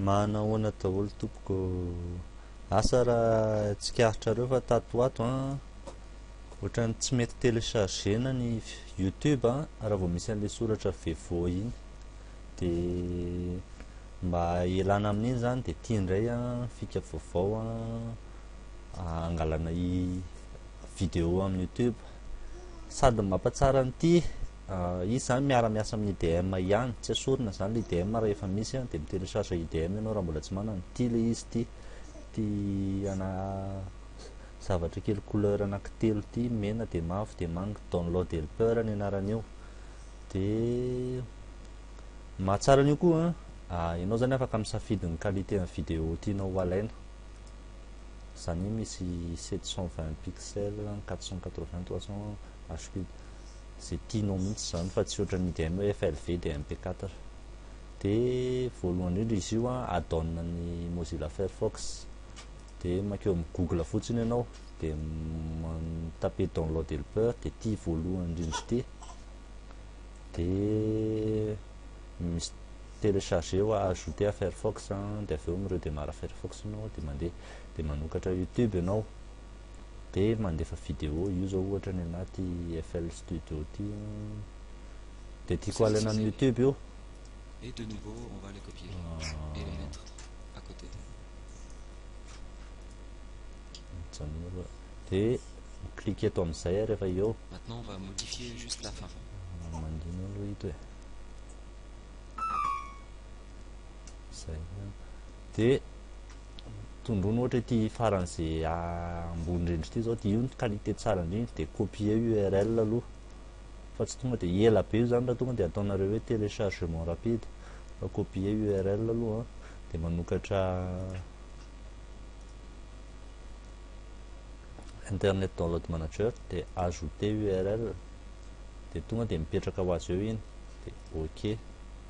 Mahana ahoana daholo tompoko Asa raha tsikaritrareo fa tato ho ato an Ohatran'ny tsy mety téléchargena ny youtube an Raha vao misy an'ilay soratra vevo iny Dia mba ialana amin'iny izany dia ity indray an Fika vaovao an Hangalana vidéo amin'ny youtube Sady mampatsara an'ity Izy zany miara miasa amin'ny IDM ihany, tsy esorina zany le IDM raha efa misy dia mi télécharge IDM ianao raha mbola tsy manana, ty le izy ty, ty ana zavatra kely couleur anaky telo ty, mena dia mavo dia manga, download helper ny anaran'io, dia mahatsara an'io koa an, ianao zany afaka misafidy ny qualité ny vidéo tianao ho alaina, zany hoe misy 720 pixels, 480, 300 HP, Ze tianao mintsy izany fa tsy ohatran'ny IDM hoe FLV dia MP4. Dia voalohany indrindra izy io an, add-on an'ny Mozilla Firefox. Dia mankeo amin'ny Google fotsiny ianao dia mi-taper download helper dia ity voalohany indrindra ity. Dia misy télécharger ou ajouter à Firefox dia avy eo mi-redémarre Firefox ianao dia mandeha dia manokatra YouTube ianao dia mandefa vidéo io zao ohatra ny anah ty FL Studio ty dia tiako alaina amin'ny YouTube io et de nouveau on va les copier ah. et les mettre à côté mijanoro dia clique eto amin'izay ary efa eo maintenant on va modifier juste la fin ah, mandino aloha ito e zay dia tondroina ohatra ity faran'izay ambony indrindra ity zao dia io ny qualité tsara indrindra dia copier url aloha fa tsy tonga dia ela be io zany raha tonga dia ataonareo hoe téléchargement rapide fa copier url aloha dia manokatra internet download manager dia ajouter url dia tonga dia mipetraka ho azy eo iny dia ok